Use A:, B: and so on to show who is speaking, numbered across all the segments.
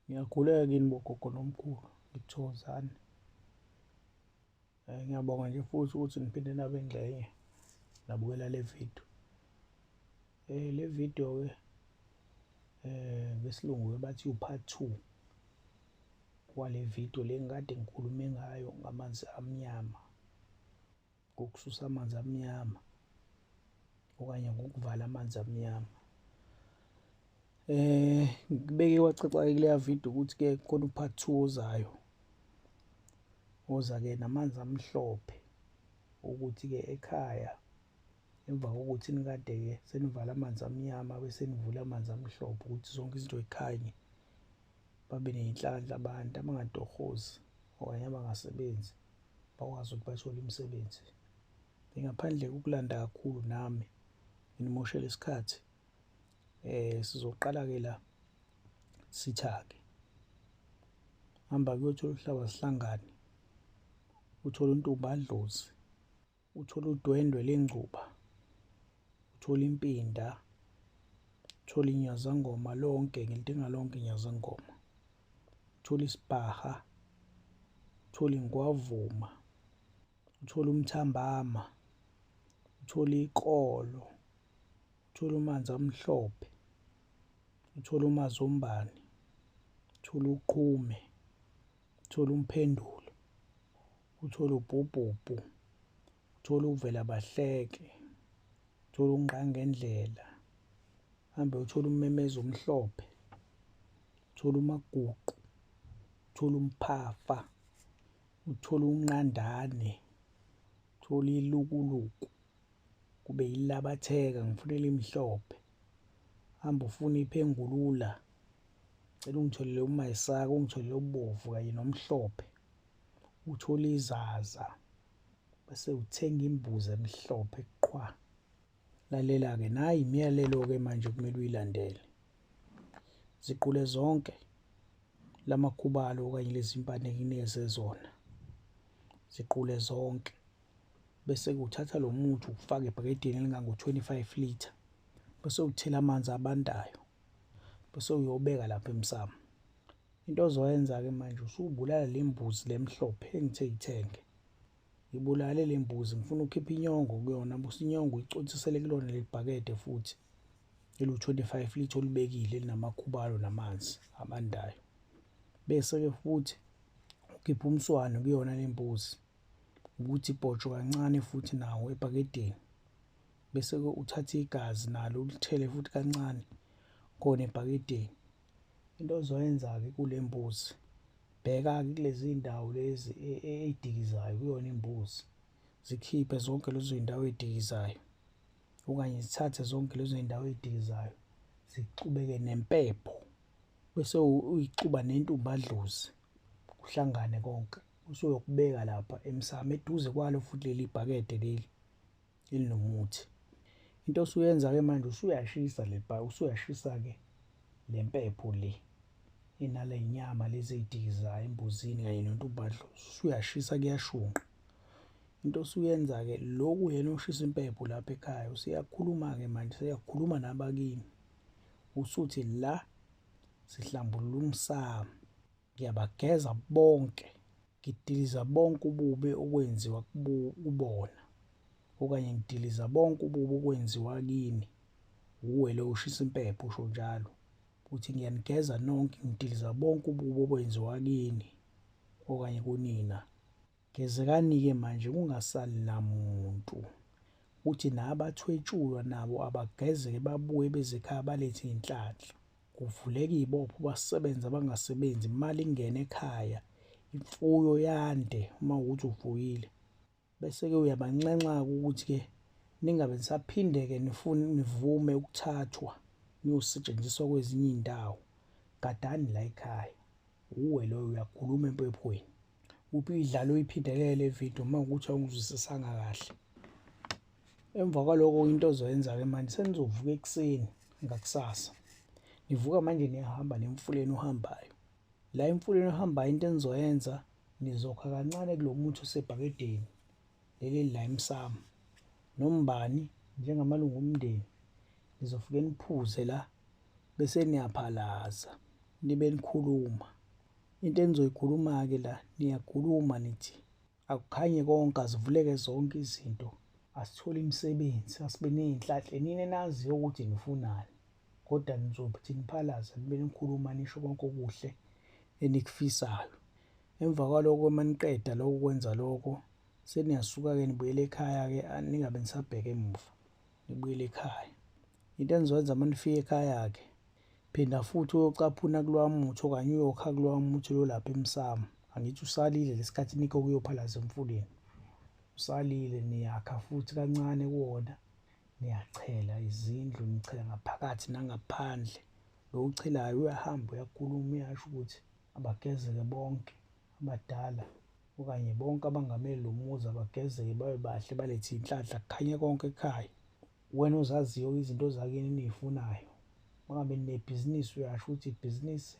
A: Ngiyakhuleka kini bogogo nomkhulu ngithokozani eh, ngiyabonga nje futhi ukuthi niphinde nabe ngxenye nabukela le video eh le video ke eh ngesilungu ke bathi u part 2 wale video lengikade ngikhulume ngayo ngamanzi amnyama ngokususa amanzi amnyama okanye ngokuvala amanzi amnyama eh ngibeke kwacaca-ke kuleya video ukuthi-ke khona upart two ozayo oza-ke namanzi amhlophe ukuthi-ke ekhaya emva kokuthi nikade-ke senivala amanzi amnyama bese nivula amanzi amhlophe ukuthi zonke izinto yikhanye babe ney'nhlanhla abantu abangatohozi okanye abangasebenzi bakwazi ukuthi bathole imisebenzi. Ngingaphandle kokulanda kakhulu nami nginimoshela isikhathi eh sizoqala-ke la sithake hamba kuyothola uhlaba sihlangane uthole untombi adlozi Uthole udwendwe lengcuba, uthole impinda, uthole inyazangoma lonke ngelintinga lonke inyazangoma, uthole isibhaha, uthole ingwavuma, uthole umthambama, uthole ikolo, uthole umanzi amhlophe, uthole umazombane, uthole uqhume, uthole umphendulo, uthole ubhubhubhu uthole uvela bahleke uthole unqangendlela hambe uthole ummemeza omhlophe uthole umaguqu uthole umphafa uthole unqandane uthole ilukuluku kube yilabatheka ngifuna elimhlophe hamba ufuna iphengulula cela ungitholele umayisaka ungitholele ubovu kanye nomhlophe uthole izaza bese uthenga imbuzi emhlophe qwa lalela-ke nayi imiyalelo-ke manje kumele uyilandele ziqule zonke la makhubalo okanye lezi mpande ngineze zona ziqule zonke bese kuthatha lo muthi ukufake ebhakedeni elingango-25 litre bese uthela amanzi abandayo bese uyobeka lapha emsamo Into ozoyenza-ke manje usubulala le mbuzi le mhlophe engithe yithenge. Ngibulale le mbuzi ngifuna ukhipha inyongo kuyona busa inyongo icotsisele kulona leli bhakede futhi eliwu-25 lithi olibekile elinamakhubalo namanzi abandayo. Bese-ke futhi ukhipha umswane kuyona le mbuzi ukuthi ibhotsho kancane futhi nawo ebhakedeni. Bese-ke uthathe igazi nalo ulithele futhi kancane khona ebhakedeni. into ozoyenza-ke kule mbuzi bheka-ke kulezi ndawo lezi e, e, ey'dikizayo kuyona imbuzi zikhiphe zonke lezo zindawo ey'dikizayo okanye zithathe zonke lezo zindawo ey'dikizayo zixubeke nempepho bese uyixuba nentumbadlozi kuhlangane konke usuyokubeka lapha emsamo eduze kwalo futhi leli bhakede leli elinomuthi into osuyenza ke manje usuyashisa le bha usuyashisa ke le mpepho le inale nyama lezi ey'dikiza embuzini kanye nontubadlo usuyashisa kuyashunqa into osuyenza ke loku yena ushisa impepho lapha ekhaya useyakhuluma ke manje seyakhuluma nabakini usuthi la sihlambulula umsamo Ngiyabageza bonke, ngidiliza bonke ububi okwenziwa kubona, okanye ngidiliza bonke ububi okwenziwa kini. Wuwe lo ushisa impepho usho njalo. Uthi ngiyanigeza nonke, ngidiliza bonke ububi okwenziwa kini okanye kunina. Gezekani-ke manje kungasali namuntu. Uthi nabathwetshulwa nabo abagezeke babuye bezekhaya balethe inhlanhla. Kuvuleka ibopho basebenze abangasebenzi imali ingene ekhaya. Imfuyo yande uma ukuthi uvuyile. Bese-ke uyabanxenxa-ke ukuthi-ke ningabe nisaphinde-ke nivume ukuthathwa niyosetshenziswa kwezinye iy'ndawo. Gadani la ekhaya. Uwe loyo uyakhuluma empephweni. Uphi idlalo uyiphindelela le video uma ukuthi awungizwisisanga kahle. Emva kwaloko into ozoyenza ke manje senizovuka ekuseni ngakusasa. Nivuka manje niyahamba nemfuleni ohambayo. La emfuleni ohambayo into enizoyenza nizokha kancane kulomuthi osebhakedeni leli la emsamo. Nombani njengamalungu omndeni nizofike niphuze la bese niyaphalaza nibe nikhuluma. Into enizoyikhuluma-ke la niyakhuluma nithi akukhanye konke azivuleke zonke izinto asithole imisebenzi asibe ney'nhlahle nini enaziyo ukuthi nifunani kodwa nizothi niphalaza nibe nikhuluma nisho konke okuhle enikufisayo emva kwaloko uma niqeda loko kwenza loko seniyasuka-ke nibuyele ekhaya-ke ningabe nisabheke emuva nibuyele ekhaya into enizokwenza uma nifika ekhaya-ke Phinda futhi uyocaphuna kulowa muthi okanye uyokha kulowa muthi lo lapha emsamo. Angithi usalile lesikhathi nikho kuyophalaza emfuleni. Usalile niyakha futhi kancane kuwona. Niyachela izindlu, nichela ngaphakathi nangaphandle. Lo uchelayo uyahamba uyakhuluma uyasho ukuthi abagezeke bonke abadala okanye bonke abangameli lo muzi abagezeke babe bahle balethe inhlanhla kukhanye konke ekhaya. Wena ozaziyo izinto zakini eniyifunayo. Mangabe ninebhizinisi uyasho ukuthi ibhizinisi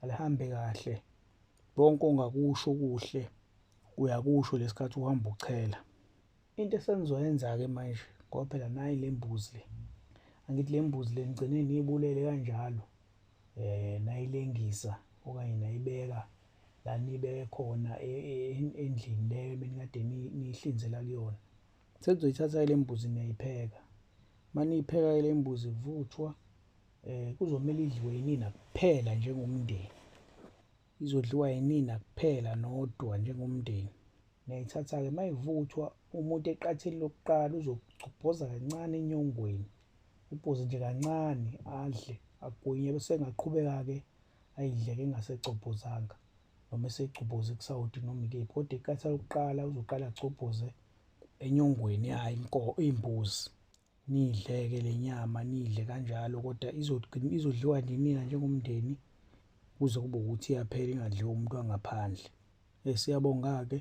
A: alihambe kahle. Konke ongakusho kuhle uyakusho lesikhathi uhamba uchela. Into esenizoyenza-ke manje ngoba phela nayi le mbuzi le. Angithi le mbuzi le nigcine niyibulele kanjalo. Eh nayilengisa okanye nayibeka la nibeke khona e, e, endlini leyo ebenikade nihlinzela kuyona. Sekuzoyithatha ile mbuzi niyayipheka. Maniyipheka ile mbuzi ivuthwa eh kuzomela idliwe yinina kuphela njengomndeni. Izodliwa yinina kuphela nodwa njengomndeni. Niyayithatha ke mayivuthwa umuntu eqatheni lokuqala uzogcobhoza kancane enyongweni. Ubhoze nje kancane adle agwinye bese engaqhubeka ke ayidle ke engasegcobhozanga. noma esegcubuze kusawoti noma ikephi kodwa iqatha lokuqala uzoqala agcobhoze enyongweni yayo inko imbuzi niyidleke le nyama niyidle kanjalo kodwa izodliwa ninina njengomndeni kuze kube ukuthi iyaphela ingadliwa umuntu wangaphandle eh, siyabonga-ke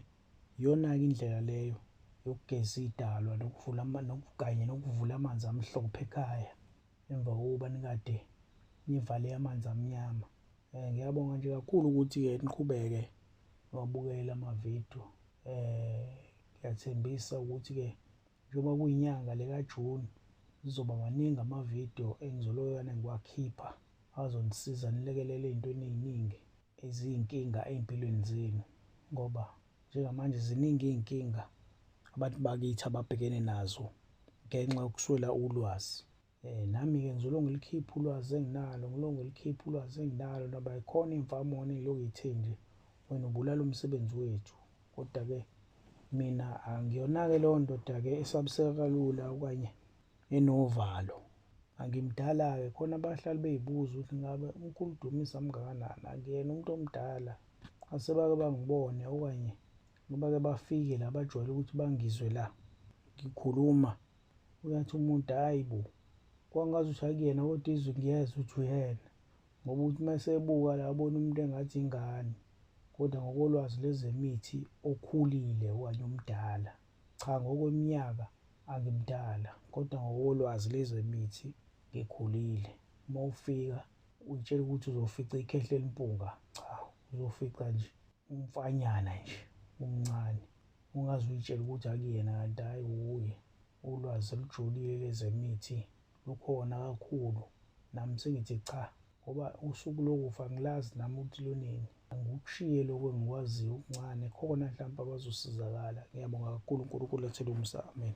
A: iyona-ke indlela leyo yokugeza idalwa nokuvula kanye nokuvula amanzi amhlophe ekhaya emva kokuba nikade nivale amanzi amnyama um ngiyabonga nje kakhulu ukuthi-ke niqhubeke niwabukele amavidiyo um ngiyathembisa ukuthi-ke njengoba kuyinyanga lekajuni zizoba maningi amavidiyo engizoloyana ngiwakhipha azonisiza nilekelele ey'ntweni ey'ningi eziyinkinga ey'mpilweni zenu ngoba Njengamanje ziningi izinkinga abantu bakithi ababhekene nazo ngenxa yokuswela ulwazi. Eh, nami-ke ngizolonge likhiphe ulwazi enginalo ngilonge likhiphe ulwazi enginalo naba ikhona imfamona engilokhu ithe nje wena ubulala umsebenzi wethu kodwa-ke mina angiyona-ke leyo ndoda-ke esabiseka kalula okanye enovalo angimdala-ke khona abahlali beyibuza ukuthi ngabe unkulu dumisa mngakanani akuyena umuntu omdala asebake bangibone okanye bake bafike la bajwayele ukuthi bangizwe la ngikhuluma uyathi umuntu hayi bo kwangazi ukuthi akuyena kodwa izwi ngiyezwa ukuthi uyena ngoba ukuthi uma esebuka la abona umuntu engathi ingane kodwa ngokolwazi lezemithi okhulile okanye omdala Cha ngokweminyaka angimdala kodwa ngokolwazi lezemithi ngikhulile. Uma ufika uyitshela ukuthi uzofica ikhehla elimpunga, cha uzofica nje umfanyana nje umncane. Ungaze uyitshele ukuthi akuyena kanti hhayi wuye. Ulwazi olujulile lezemithi Lukhona kakhulu nami sengithi cha ngoba usuku lokufa ngilazi nami ukuthi lunini angikushiye lokho engikwaziyo okuncane khona mhlawumbe abazosizakala ngiyabonga kakhulu unkulunkulu athele umsa amen